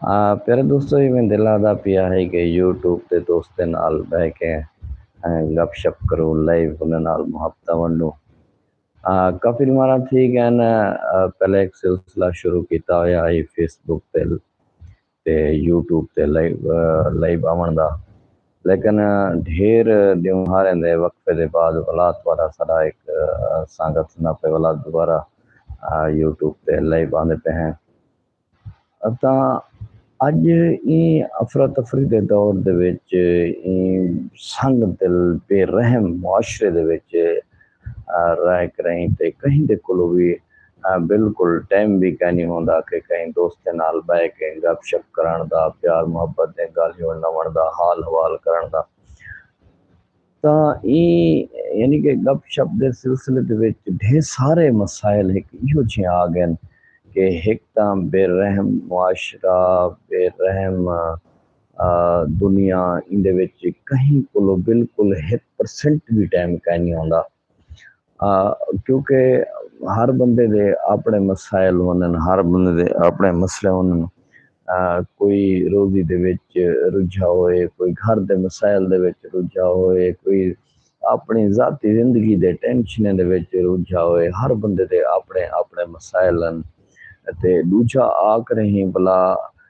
پیارے دوستو ایویں دل آدا پیا ہے کہ یوٹیوب تے دوستیں نال بہ کے گپ شپ کروں لائیو انہاں نال محبتاں ونڈوں کافی مارا تھی گئے نا پہلے ایک سلسلہ شروع کیتا ہویا ہے فیس بک تے تے یوٹیوب تے لائیو لائیو آون دا لیکن ڈھیر دیوں ہاریں دے وقفے دے بعد ولاد والا سارا ایک سانگت نہ پہ ولاد دوبارہ یوٹیوب تے لائیو آندے پہ ہیں اتاں اڄ ایں افراتفری دے دور دے وچ ایں سنگ دل بے رحم معاشرے دے وچ رہ کریں تے کہیں دے کولو وی بالکل ٹائم وی کائنی ہوندا کہ کہیں دوستیں نال بہ کے گپ شپ کرݨ دا، پیار محبت دیں ڳالھیوں ݙاوݨ دا، حال حوال کرݨ دا۔ تاں ایں یعنی کہ گپ شپ دے سلسلے دے وچ ڈھیر سارے مسائل ہک ایہو جھیں آ گئن کہ ہک تاں بے رحم معاشرہ بے رحم دنیا ایندے وچ کہیں کولو بالکل ہک پرسنٹ وی ٹائم کائنی ہوندا کیونکہ ہر بندے دے اپنے مسائل ہونن ہر بندے دے اپنے مسئلے ہونن کوئی روزی دے وچ رجھا ہوئے کوئی گھر دے مسائل دے وچ رجھا ہوئے کوئی اپنی ذاتی زندگی دے ٹینشنیں دے وچ رجھا ہوئے ہر بندے دے اپنے اپنے مسائل ہن تے دوجھا آکھ رہی بلا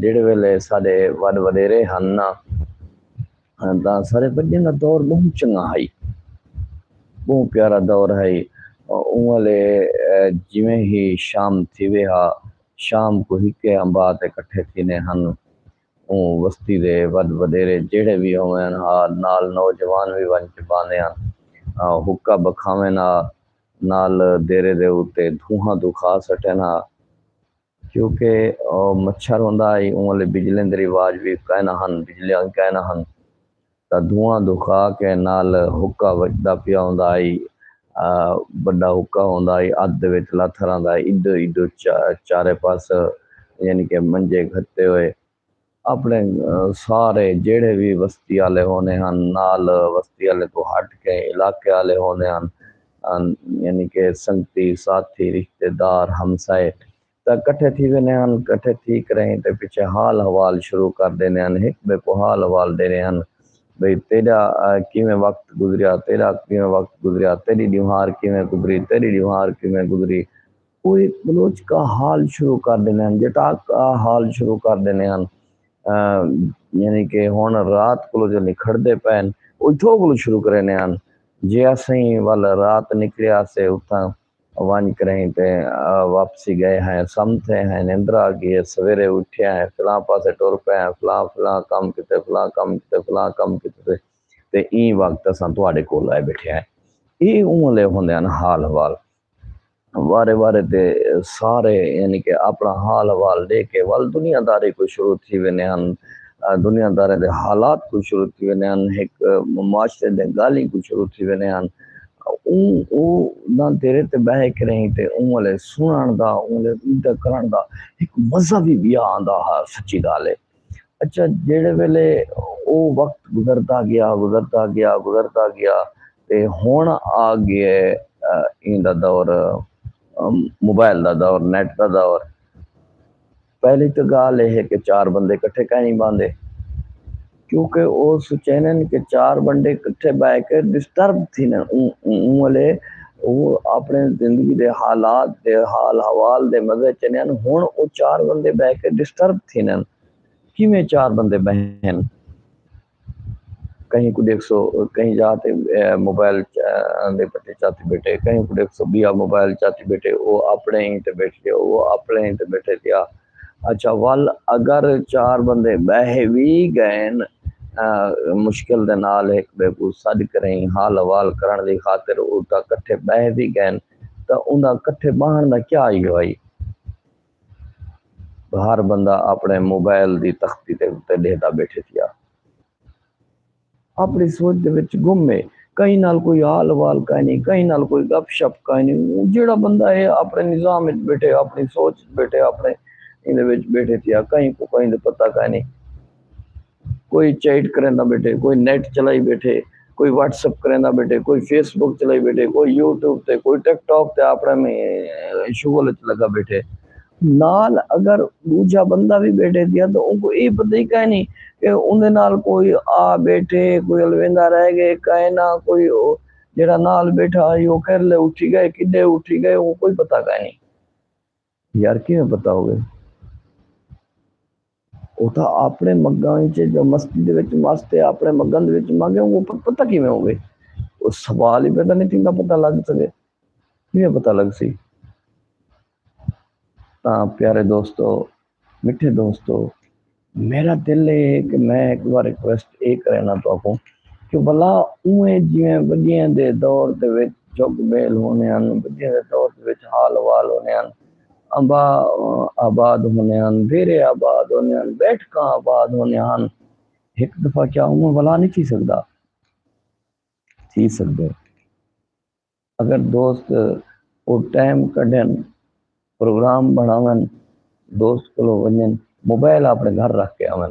جیڑھے ویلے ساڈے وڈ وڈیرے ہن نا تاں ساڈے بڈیاں دا دور بہوں چنگا ہئی بہوں پیارا دور ہئی اوں ویلے جیویں ہی شام تھیوے ہا شام کو ہکے امبا تے کٹھے تھینے ہن اوں وستی دے وڈ وڈیرے جیڑھے وی ہووین ہا نال نوجوان وی ونج کے باندیاں حقہ بکھاوین ہا نال دیرے دے اتے دھوہاں دکھا سٹین ہا۔ کیوں کہ او مچھر ہوندا ہئی اوں الے بجلیں دے رواج وی کائنا ہن بجلیاں وی کائنا ہن تاں دھواں دھکا کے نال حقہ وجدا پیا ہوندا ہئی بڈا حقہ ہوندا ہئی ادھ دے وچ لاتھ رہندا ہئی ایڈو ایڈو چارے پاس یعنی کہ منجے گھتے ہوئے اپݨے سارے جیڑھے وی وستی آلے ہوندے ہن نال وستی آلیں توں ہٹ کے علاقے آلے ہوندے ہن یعنی کہ سنگتی ساتھی رشتے دار ہمسائے تاں کٹھے تھی ویندے ہن کٹھے تھی کریہیں تے پچھے حال حوال شروع کر ݙیندے ہن ہک ٻئے کوں حال حوال ݙیندے ہن بھئی تیݙا کیویں وقت گزریا تیݙا کیویں وقت گزریا تیݙی ݙیوہار کیویں گزری تیݙی ݙیوہار کیویں گزری اوہ بلوچ کا حال شروع کر ڈیندے ہن جٹاک کا حال شروع کر ڈیندے ہن یعنی کہ ہن رات کولوں جو نکھڑدے پئے ہن اتھوں کولوں شروع کریندے ہن جے اسیں ول رات نکلے آسے اتھاں ونج کریں تے واپسی گئے ہیں سم تھے ہیں نندر آ گئی ہے سویرے اٹھے ہیں فلاں پاسے ٹر پئے ہیں فلاں فلاں کم کیتے فلاں کم کیتے فلاں کم کیتے تے ایں وقت اساں تہاڈے کول آئے بیٹھے ہیں اے اوں لے ہوندے ہن حال حوال وارے وارے تے سارے یعنی کہ اپنا حال احوال ڈے کے ول دنیا داری کوں شروع تھی ویندے ہن دنیا داریں دے حالات کوں شروع تھی ویندے ہن ہک معاشرے دے گالیں کوں شروع تھی ویندے ہن اوں او نہ دیرے تے بہے کے رہیں تے اوں والے سنن دا اوں والے ردہ کرن دا ہک مزہ بھی بیا آندا ہا سچی گالے اچھا جیڑے ویلے او وقت گزردا گیا گزردا گیا گزردا گیا تے ہن آ گئے ایں دا دور موبائل دا دور نیٹ دا دور پہلی تو گال یہ ہے کہ چار بندے کٹھے کہیں نہیں باندھے کیونکہ وہ سوچے کہ چار بندے کٹھے بہ کے ڈسٹرب تھی نا اون والے او اپݨے زندگی دے حالات دے حال حوال دے مزے چنین ہن او چار بندے بہہ کے ڈسٹرب تھینن کیویں چار بندے بہن کہیں کوں ڈیکھسو کہیں جا تے موبائل دے پٹے چاتی بیٹھے کہیں کوں ڈیکھسو بیا موبائل چاتی بیٹھے او اپنے ہی تے بیٹھ کے او اپنے ہی تے بیٹھے تیا اچھا ول اگر چار بندے بہہ وی گئن مشکل دے نال ہک بئے کوں سڈ کریں حال احوال کرنڑ دی خاطر اتا کٹھے بہہ وی گئن تاں اوندا کٹھے بہنڑ دا کیا ای ہئی ہر بندہ اپنڑے موبائل دی تختی دے اتے ڈیہدا بیٹھے تھیا۔ اپݨی سوچ دے وچ گم ہے۔ کہیں نال کوئی حال احوال کائنی، کہیں نال کوئی گپ شپ کائنی۔ اوں جیڑھا بندہ ہے اپݨے نظام وچ ٻیٹھے، اپݨی سوچ وچ ٻیٹھے، اپݨے ایندے وچ ٻیٹھے تھیا۔ کہیں کوں کہیں دا پتہ کائنی۔ کوئی چیٹ کریندا ٻیٹھے، کوئی نیٹ چلائی ٻیٹھے، کوئی واٹس ایپ کریندا ٻیٹھے، کوئی فیس بک چلائی ٻیٹھے، کوئی یوٹیوب تے، کوئی ٹک ٹاک تے اپݨے شغل وچ لڳا ٻیٹھے۔ نال اگر ڈوجھا بندہ وی بیٹھے تھیا تاں اونکوں اے پتہ ای کائنی کہ اوندے نال کوئی آ بیٹھے کوئی الویندا رہ گئے کائے نہ کوئی جیڑھا نال بیٹھا ہئی او کیرلے اٹھی گئے کڈے اٹھی گئے اونکوں کوئی پتہ کائنی یار کیویں پتہ ہووے۔ اوتھا آپنڑے مگاں وچ جو مسجد وچ مس تے آپنڑے مگاں دے وچ مانگے اونکوں پر پتہ کیویں ہووے او سوال ہی پیدا نی تھیندا پتہ لگ سگے کیویں پتہ لگسی تاں پیارے دوستو مٹھے دوستو میرا دل اے ہے کہ میں ایک وار ریکویسٹ اے کرینا تو اکوں کہ بلا اوے جویں وڈیاں دے دور دے وچ جھگ بیل ہونے ان وڈیاں دے دور دے وچ حال وال ہونے ان امبا آباد ہوندے ہن، دیرے آباد ہوندے ہن، بیٹھکاں آباد ہوندیاں ہن۔ ہک دفعہ کیا اوہ ولا نی تھی سگدا؟ تھی سگدے۔ اگر دوست او ٹائم کڈھن، پروگرام بنڑاون، دوست کولو ونجن، موبائل اپنڑے گھر رکھ کے آون۔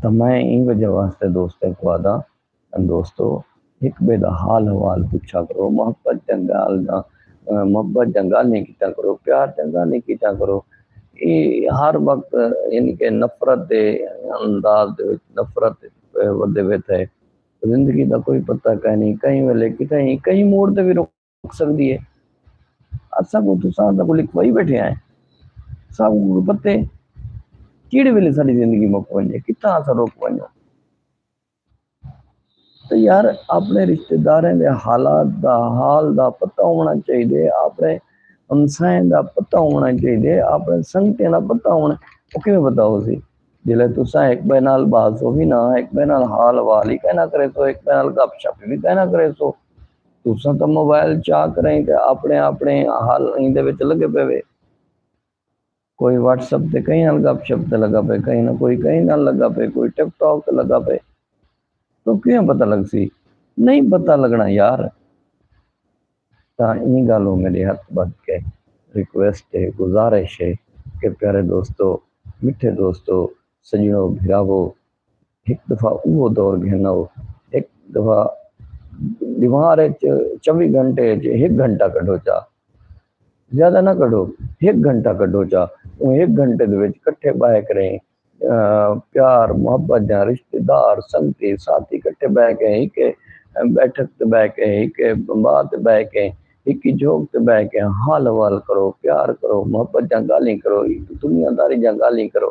تاں میں ایں وجہ واسطے دوستیں کوں آدھاں دوستو ہک بے دا حال حوال پچھا کرو محبت جنگال دا محبت جنگال نہیں کیتا کرو پیار جنگال نہیں کیتا کرو اے ہر وقت یعنی کہ نفرت دے انداز دے وچ نفرت ودے ویتا ہے زندگی دا کوئی پتہ کہیں نہیں کہیں ویلے کتھے ہی کہیں موڑ تے بھی رک سکدی ہے اساں کو تساں دا کو لکھوائی بیٹھے ہیں ساں کو پتے کیڑے ویلے ساری زندگی مک ونجے کتنا اساں روک ونجو تو یار اپنے رشتہ داریں دے حالات دا حال دا پتہ ہونا چاہیے اپنے ہمسائیں دا پتہ ہونا چاہیے اپنے سنگتیں دا پتہ ہونا وہ کیوں پتہ ہو سی جلے تساں ایک بے نال باز ہو بھی نہ ایک بے نال حال والی کہنا کرے سو ایک بے نال گپ شپ بھی کہنا کرے سو تساں تاں موبائل چا کریں تے اپنے اپنے حال ایں دے وچ لگے پے وے کوئی واٹس اپ تے کہیں نال گپ شپ تے لگا پے کہیں نہ کوئی کہیں نال لگا پے کوئی ٹک ٹاک تے لگا پے تو کیوں پتہ لگ سی نہیں پتہ لگنا یار تاں ایں گالوں میرے ہاتھ بد کے ریکویسٹ ہے گزارش ہے کہ پیارے دوستو مٹھے دوستو سجنو بھراو ہک دفعہ اوہو دور گھنو۔ ہک دفعہ ڈیوار اچ چوی گھنٹے اچ ہک گھنٹہ کڈھو چا۔ زیادہ نہ کڈھو ہک گھنٹہ کڈھو چا۔ اوں ہک گھنٹے دے وچ کٹھے بہہ کریں پیار محبت دیاں رشتے دار سنگتی ساتھی کٹھے بہہ کے ہکے بیٹھک تے بہہ کے ہکے بمبا تے بہہ کے ہکی جھوک تے بہہ کے حال حوال کرو پیار کرو محبت دیاں گالھیں کرو دنیا داری دیاں گالھیں کرو۔